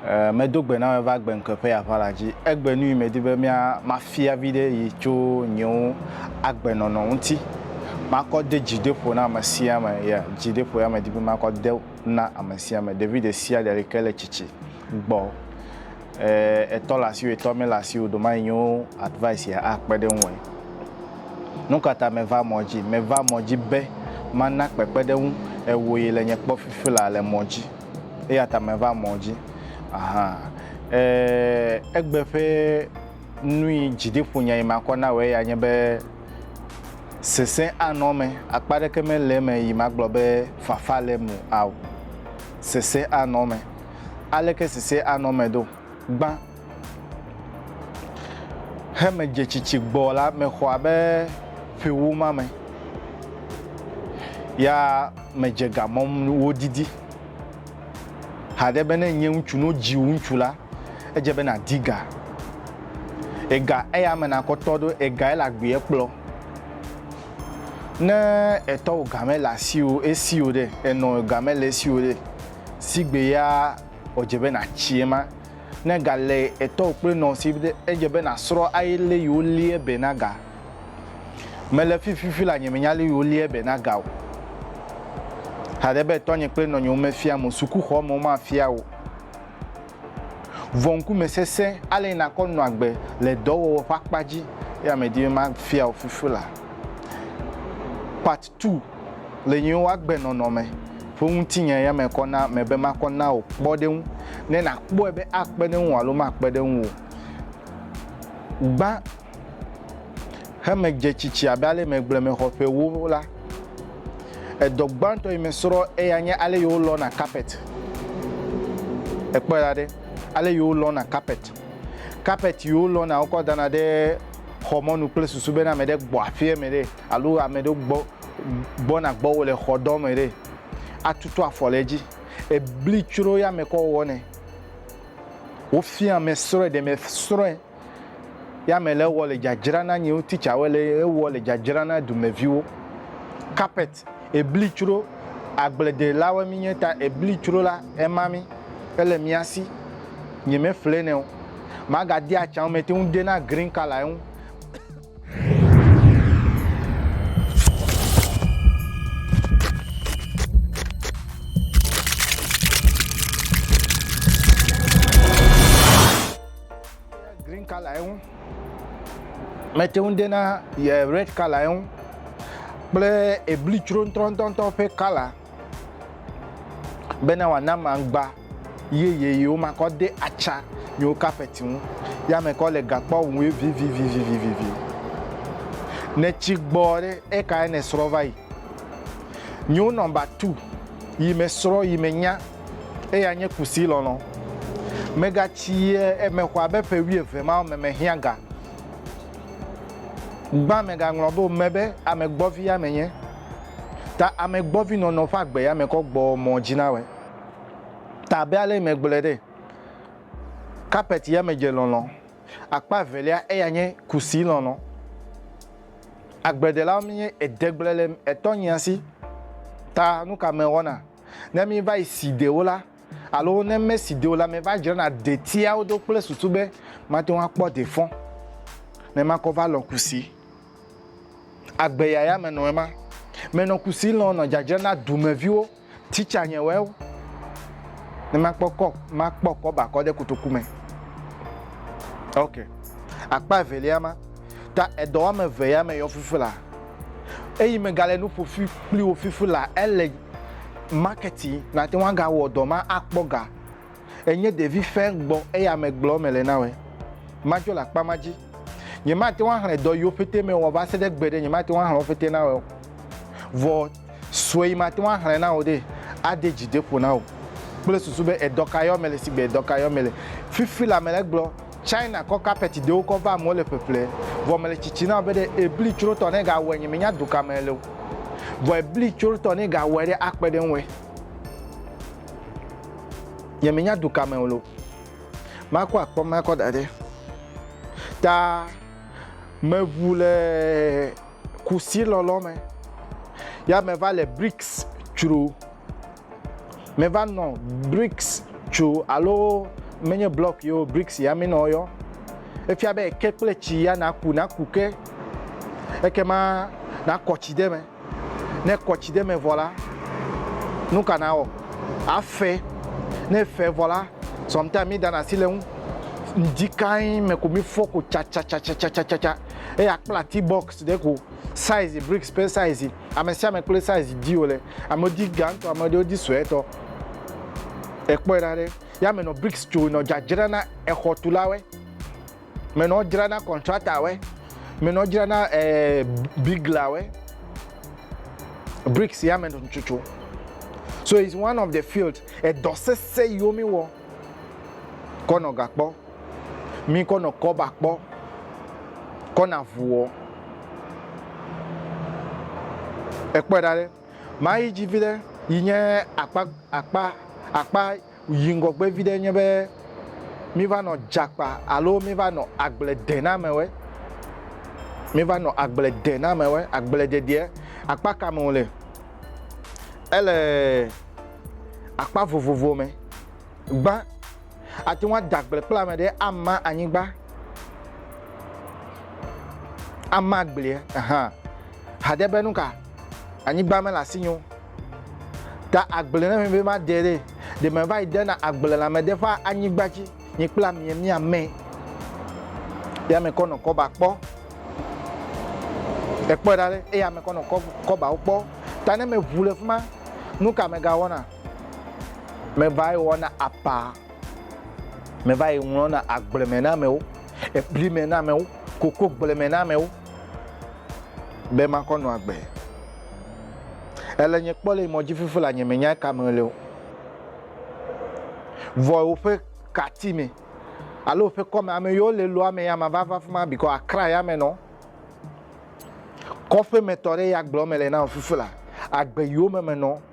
Eh, medo gbe na me va gbe ŋkeƒe ya ƒe la dzi. Egbe nui medi be mia mafia vi ɖe yi tso nyewo agbenɔnɔ ŋuti. Makɔ de dzi de ƒo na ame sia ame ya dzi de ƒo ya medi be makɔ de na ame sia ame ɖevi ɖe sia ɖe yi ke le tsitsi. gbɔ etɔ le asiwò etɔ mele asiwò ɖo ma yi nyo advice ya a kpe ɖe ŋuwɔɛ nukata me va mɔ dzi me va mɔ dzi be ma na kpekpe ɖe ŋu ewò yi le nye kpɔ fifi la le mɔ dzi eya ta me va mɔ dzi ahan e egbe ƒe nui dzi de ƒo nya yi ma kɔ na wɔ eya nye be sese anɔ me akpa ɖeke me le me yi ma gblɔ be fafa le mu ao sese anɔ me aleke sese anɔ me do. Gbã he medze tsitsi gbɔ la, mexɔ abe ƒewo ma me, ya medze ga mɔm wodidi. Haɖe be ne nye ŋutsu no dzi ŋutsu la, edze be nàdi ga. Ega eya me nakɔtɔ ɖo, ega ele agbeɛ kplɔ. Ne etɔwò game le asiwò esiwò ɖe, enɔ game le esiwò ɖe. sigbe ya ɔdze be natsi ema. Ne ga le etɔ o kple nɔ sigbe edze be nasrɔ ayi le yi wo lie be na ga. Me le fi fifi la nye me nya le yi wo lie be na ga o. Haɖe be etɔ nye kple nɔ nye wo me fia mo suku xɔ me wo ma fia wo. Vɔ ŋkume sese ale yi nakɔ nɔ agbe le dɔ wɔwɔ ƒe akpa dzi ya me di be ma fia wo fifi la. Part. Tu le nyiwo woagbe nɔnɔ me ƒe ŋutinye ya me kɔ na ame be makɔ na wò kpɔɖeŋu ne nàkpɔe be akpe ɖe ŋuwò alo makpe ɖe ŋuwò o. Gbã hemedze tsitsi abe ale megblɔe me xɔ ƒe ewo la, edɔ gbãtɔ yi mesrɔ eya nye ale yi wolɔna kapet. Èkpɔe ɖa ɖe, ale yi wolɔna kapet. Kapet yi wolɔna wokɔ dana ɖe xɔ mɔnu kple susu bena ame ɖe gbɔ aƒea me ɖe. alo ame ɖewo gbɔ gbɔna gbɔ wo le xɔ dɔ me ɖe, atutu afɔ le edzi. Ebli tsro ya me kɔ wɔ nɛ. Wo fia ame srɔe ɖe me srɔe ya me le wɔ le dzadzra na nyiwo teacher wo le ewɔ le dzadzra na dumeviwo. Carpet ebli tsro agble de la wo mi nye ta ebli tsro la ema mi ele mia si nye me ƒle nɛ o. Ma ga de atsa wo me te ŋu de na green color eŋu. green color ye ŋu mete ŋu de na ye red color ye ŋu kple ebli tsroŋtrɔntɔntɔ ƒe color bena wòana aŋgba. Ye yeyewo ma kɔ de aca nyewo kapɛti ŋu, ya me kɔ le gakpɔ ŋue vivivivivivivi. Nɛ ci gbɔ ɖe eka ene srɔ va yi. Nyewo nɔ ba tu yi me srɔ yi me nya eya nye kusi lɔlɔ. Me ga ci ye eme xɔ abe ƒe wui eve mawo me me hiã ga. Gbã me ga ŋlɔ be o me be ame gbɔvi ya me nye. Ta ame gbɔvi nɔnɔ ƒe agbe ya me kɔ gbɔ mɔ dzi na wɛ. ta abe ale megblɔe ɖe, kapɛti ya me dze lɔlɔ. Akpa evelia eya nye kusi lɔlɔ. Agbledelawo míenye edegble le etɔnyia si ta nu ka mewɔna ne míva yi si de wo la alo ne mesi de o la meva dzrana detiawo do kple susu be mate ŋu akpɔ de fɔ ne makɔ va lɔ kusi. Agbeya ya menɔe ma. Menɔ kusi lɔ nɔ dzadzra na dumeviwo Teacher nye wɛ o ne ma kpɔ kɔ ma kpɔ kɔ ba kɔ de kotoku me. Ok. Akpa evelia ma ta edɔ wame eve ya me yɔ fifi la. Eyi me gale nu ƒo fi kpli wo fifi la ele marketi na te ŋu aga wɔ dɔ ma akpɔ ga. Enye ɖevi fɛ gbɔ eya me gblɔ me le na wɛ. Ma dzɔ le akpa ma dzi. Nye ma te ŋu axlɛ dɔ yiwo pete me wɔ va se ɖe gbe ɖe nye ma te ŋu axlɛ wo pete na wɛ o. Vɔ. Sue mate ŋu axlẽ na wò ɖe, ade dzi ɖe ƒo na wò kple susu be edɔ ka yɔ mele sigbe edɔ ka yɔ mele. Fifi la mele egblɔ, China kɔ carpet ɖewo kɔ va amewo le ƒeƒle, vɔ mele tsitsi na wò be ɖe ebli tsrotɔ ne gawɔe nye menya du ka me ele o, vɔ ebli tsrotɔ ne gawɔe ɖe akpe ɖe ŋue nye menya du ka me ole o. Makɔ akpɔ makɔ da ɖe ta meʋu le. Kusi lɔlɔ me. Ya me va le BRICS tsro. Me va nɔ BRICS tsro alo menye blɔk yo BRICS ya me nɔ yɔ. Efia be ke kple tsi ya na ku na ku ke. Eke ma na kɔ tsi de me. Ne kɔ tsi de me vɔ la, nuka na wɔ? A fe. Ne fe vɔ la, sɔmta mi da na si le ŋu. Ŋdi kain me ko mi fɔ ko tsa tsa tsa tsa tsa tsa tsa. eye akpla ti box ɖe ko size bricks ƒe size ame sia ame kple size di wòle amewo di gãtɔ ame ɖewo di suetɔ ekpɔe ɖa ɖe ya me nɔ bricks tso nɔ dzadzra na exɔtulawe me nɔ dzra na contractorwe me nɔ dzra na eh, biglawe bricks ya me nɔ tsotso so it's one of the field edɔ sese yiwo mi wɔ kɔ nɔ gakpɔ. Míkɔ nɔ kɔba kpɔ kɔ na vuɔ. Ekpɔɛ ɖa ɖe. Ma yi dzi viɖe yi nye akpa akpa akpa yi ŋgɔgbe viɖe nye be mi va nɔ djakpa alo mi va nɔ agbledenamewɛ. Mi va nɔ agbledenamewɛ, agbledediɛ. Akpa ka me wo le? Ele akpa vovovo me. Gbã Ate ŋu ada agble kple ame ɖe ama anyigba, ama agblie hã. Haɖe be nu ka? Anyigba mele asinye o. Ta agble ne be made ɖe, ɖe meva yi dena agble le ame ɖe ƒe anyigba dzi, nye kple amea míame. Eya me kɔ nɔ kɔba kpɔ. Ekpɔe ɖa ɖe, eya me kɔ nɔ kɔbawo kpɔ. Ta ne meʋu le fi ma, nu ka megawɔna? Mevae wɔna apa, mevae ŋlɔna agble me na amewo, ebli me na amewo, kokogble me na amewo, be makɔ nɔ agbe. Ele nye kpɔ le mɔ dzi fifi la nye menya ka me le o. Vɔ woƒe kati me alo woƒe kɔme ame yiwo le loa me ya ma va va fima bikɔ akra ya me nɔ. Kɔƒe me tɔ ɖe ya gblɔ me le na fifi la agbe yiwo me me nɔ.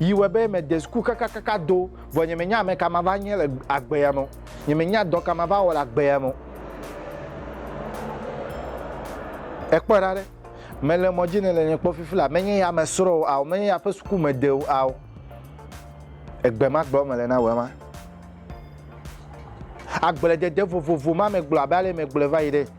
Yi wɔe be mede suku kakakaka do, vɔ nyemenya ame ka mava nye le agbea me o. Nyemenya dɔ ka mava wɔ le agbea me o. Ekpɔe ɖa ɖe, mele mɔ dzi ne le nye kpɔ fifi la, menye ya me srɔ̃ o ao, menye ya ƒe suku mede o ao. Egbe ma gblɔ mele na wòe ma. Agbledede vovovo ma megblɔ abe ale megblɔe va yi ɖe.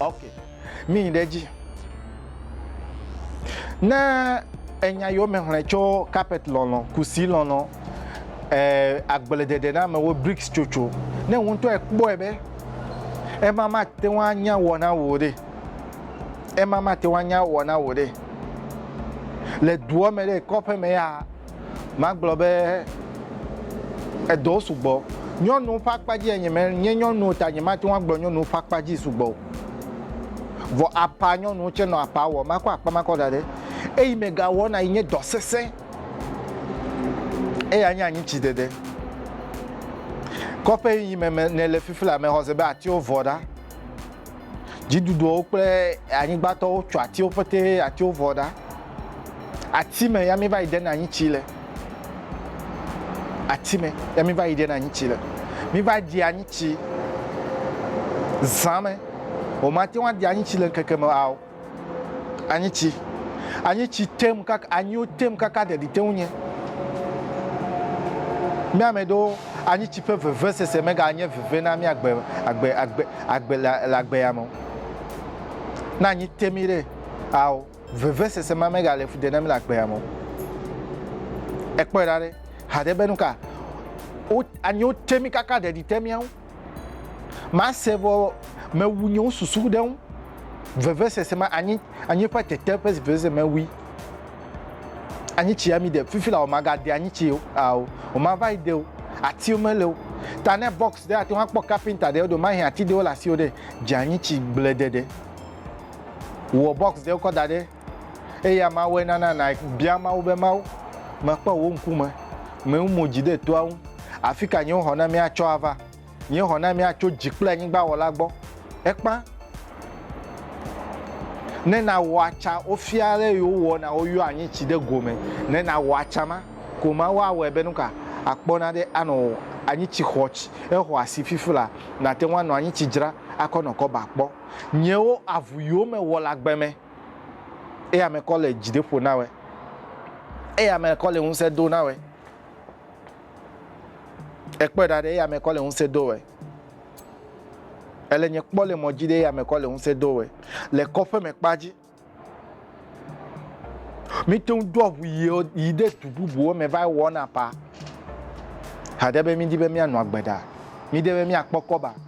Ok, míyi ɖe edzi. Ne enya yiwo me xlẽ tso carpet lɔlɔ, kusi lɔlɔ, eh, agbledede na amewo, bricks tsotso, ne wò ŋutɔ ekpɔe be ema mate ŋu anya wɔ na wò ɖe, ema mate ŋu anya wɔ na wò ɖe. Le dua me ɖe, kɔƒe me ya, Magblɔ be, Edɔwo sugbɔ. Nyɔnuwo ƒe akpa dzia, nyemenye nyɔnu o ta nyemate ŋu agblɔ nyɔnuwo ƒe akpa dzi sugbɔ o. Vɔ aƒa, nyɔnuwo tsɛ nɔ aƒa wɔm. Makɔ akpa ma kɔ da ɖe eyi mega wɔna yi nye dɔ sesẽ. Eya nye anyi tsi dede. Kɔƒe yi me me nele fifila, mexɔse be atiwo vɔ ɖa. Dziɖuɖuwo kple anyigbatɔwo tsɔ atiwo pete atiwo vɔ ɖa. Ati me ya mi va yi ɖe na anyi tsi le. Ati me ya mi va yi ɖe na anyi tsi le. Mi va ɖi anyi tsi zã me. Womate ŋu aɖi anyi tsi le ŋkeke me ao. Anyi tsi. Anyi tsi tem kaka, anyiwo tem kaka ɖeɖi te ŋu nye. Mía ame ɖewo, anyi tsi ƒe vevesese mega nye veve na mía agbe, agbe, agbe, agbe le, le agbe ya me o. Ne anyi te mí ɖe, ao, vevesese ma mega le fu ɖe na mí le agbe ya me o. Ekpɔe ɖa ɖe, haɖe be nuka? Wo, anyiwo te mí kaka ɖeɖi te mía ŋu. Mase vɔ mewu nye wo susu ɖe ŋu. Vevesese ma anyi anyi ƒe tete ƒe vevesese mewui. Anyi tsi ami de fifi la o magade anyi tsi o ao o mava yi de o atiwo mele o. Ta ne box ɖe ate ŋu akpɔ kapinta ɖe ɖo mahi ati ɖewo le asiwo ɖe dze anyi tsi gble de ɖe. Wɔ box ɖewo kɔ da ɖe Eya Mawɔe nana nàbia Mawu be, Mawu, mekpɔ wò ŋkume, mewu mo dzi ɖe toa ŋu. Afi ka nye xɔnamee atsɔ ava? Nye xɔnamee atso dzi kple anyigba Wɔla gbɔ. Ekpã ne nawɔ atsa wofia ale yi wowɔ na woyɔ anyi tsi ɖe go me. Ne nawɔ atsa ma, ko Mawu awɔe be nuka àkpɔ na ɖe anɔ anyi tsi xɔ tsi exɔ asi fifla nàte ŋu anɔ anyi tsi dzra akɔ nɔ kɔba kpɔ. Nyewo avu yiwo mewɔ le agbe me. Eya me kɔ le dzideƒo na wɛ. Eya me kɔ le ŋusẽ do na wɛ. Ekpɔe ɖa ɖe eya me kɔ le ŋusẽ do wɛ. Ele nye kpɔ le mɔdzi ɖe eya me kɔ le ŋusẽ do wɛ. Le kɔƒe me kpa dzi. Mite ŋu doa ʋu yi ɖe du bubuwo me va wɔna pa. Haɖe be midi be mianɔ agbe ɖa. Mide be miakpɔ kɔba.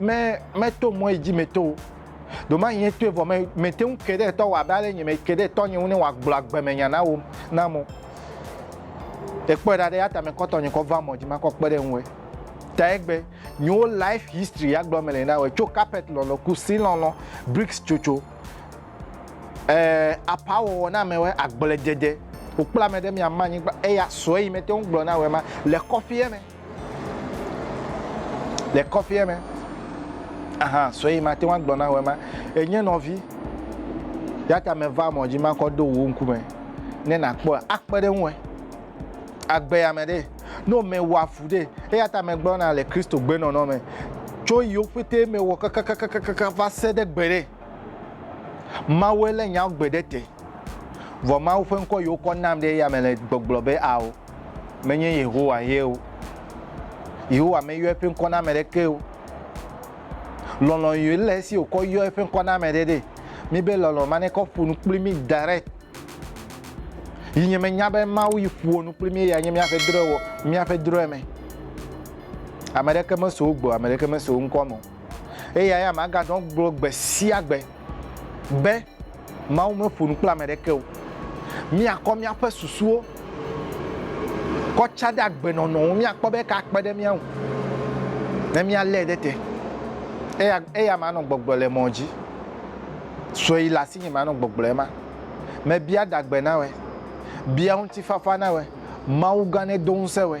Me meto mɔe dzi meto o. Domai nye toe vɔ me mete ŋu ke ɖe tɔ wɔ abe ale nye me ke ɖe tɔ nye ŋu ne wòagblɔ agbemenya na wo na mo. Ekpɔe ɖa ɖe ya ta me kɔtɔ nye kɔ va mɔ dzi makɔ kpe ɖe ŋu e. Ta egbe nyewo life history ya gblɔ me le na wo tso carpet lɔlɔ ku si lɔlɔ bricks tsotso eh apa wɔwɔ na me we agble dede. Wokpla me ɖe mia ma nyigba eya sɔe yi mete ŋu gblɔ na wo ma le kɔfie me. Le kɔƒea me, aha sɔe mate ŋu agblɔ na wò ema. Enye nɔvi, ya ta meva mɔ dzi makɔ do wò ŋkume ne nàkpɔe akpe ɖe ŋue. Agbe ame ɖe, no mewɔa fu ɖe, eya ta megblɔna le Kristo gbenɔnɔ me tso yiwo ƒete mewɔ kakakakaka va se ɖe gbe ɖe. Mawue lé nyao gbe ɖe te, vɔ Mawu ƒe ŋkɔ yiwo kɔ nam ɖe eya me le gbɔgblɔ be ao. menye Yehowa ye o. Yehowa meyɔ eƒe ŋkɔ na ame ɖeke o. Lɔlɔ̃ yɔe le esi wòkɔ yɔ eƒe ŋkɔ na ame ɖe ɖe. Míbe lɔlɔ̃ ma nekɔ ƒo nu kpli mí direct. Yi nye menya be Mawu yi ƒoa nu kpli mí ya nye míaƒe drɔ̃ewɔ, míaƒe drɔ̃eme. Ame ɖeke meso wo gbɔ, ame ɖeke meso wo ŋkɔ me o. Eya ya maganɔ gblɔ gbe sia gbe be, Mawu meƒo nu kple ame aɖeke o. Míakɔ míaƒe susuwo kɔ tsã ɖe agbenɔnɔ ŋu míakpɔ be eka akpe ɖe mía ŋu ne míalé ɖe te. Eya, eya manɔ gbɔgblɔ le mɔ dzi. Sue yi le asinye manɔ gbɔgblɔ ema. Mebia adagbe na wòe. Bia ŋutifafa na wòe. Mawugã nedo ŋusẽ wòe.